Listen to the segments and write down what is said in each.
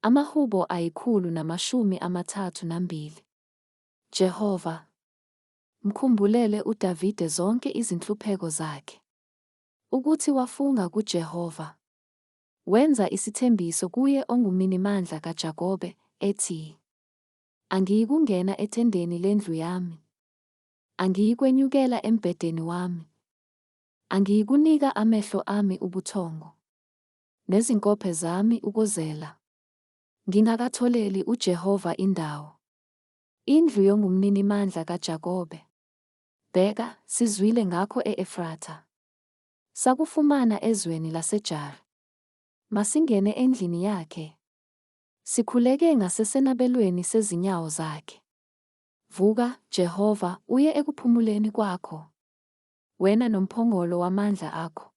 Amahubo ayikhulu namashumi amathathu nambili. Jehova, mkhumbulele uDavide zonke izinhlupheko zakhe. Ukuthi wafunga kuJehova. Wenza isithembiso kuye onguMinimandla kaJakobe, ethi, Angiyikungena ethendeni lendlu yami. Angiyikwenyukela embhedeni wami. Angiyikunika amehlo ami ubuthongo. nezinkophe zami ukuzela ngingakatholeli uJehova indawo, indlu yongumninimandla kaJakobe. Bheka, sizwile ngakho e-Efratha, sakufumana ezweni laseJare. Masingene endlini yakhe, sikhuleke ngasesenabelweni sezinyawo zakhe. Vuka, Jehova, uye ekuphumuleni kwakho, wena nomphongolo wamandla akho.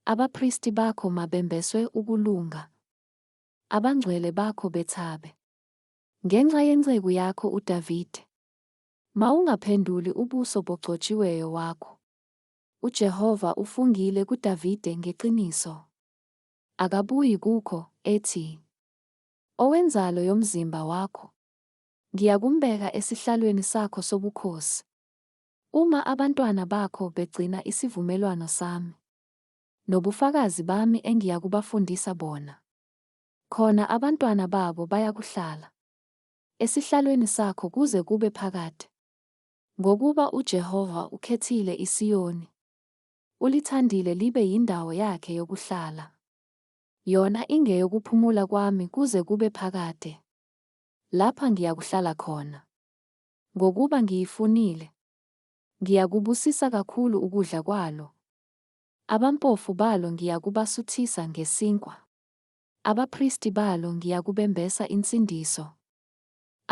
Abapristi bakho mabembeswe ukulunga, abangcwele bakho bethabe. Ngenxa yenceku yakho uDavide, mawungaphenduli ubuso bogcotshiweyo wakho. UJehova ufungile kuDavide ngeqiniso. Akabuyi kukho, ethi, Owenzalo yomzimba wakho, ngiyakumbeka esihlalweni sakho sobukhosi. Uma abantwana bakho begcina isivumelwano sami nobufakazi bami engiyakubafundisa bona, khona abantwana babo bayakuhlala esihlalweni sakho kuze kube phakade, ngokuba uJehova ukhethile iSiyoni, ulithandile libe yindawo yakhe yokuhlala, yona ingeyokuphumula kwami kuze kube phakade, lapha ngiyakuhlala khona. Ngokuba ngiyifunile, ngiyakubusisa kakhulu ukudla kwalo, abampofu balo ngiyakubasuthisa ngesinkwa, abapristi balo ngiyakubembesa insindiso,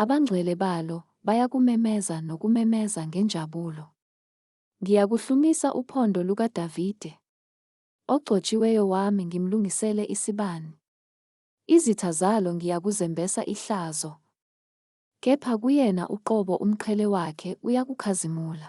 abangcwele balo bayakumemeza nokumemeza ngenjabulo. Ngiyakuhlumisa uphondo lukaDavide, ogcotshiweyo wami ngimlungisele isibani, izitha zalo ngiyakuzembesa ihlazo. Kepha kuyena uqobo umqhele wakhe uyakukhazimula.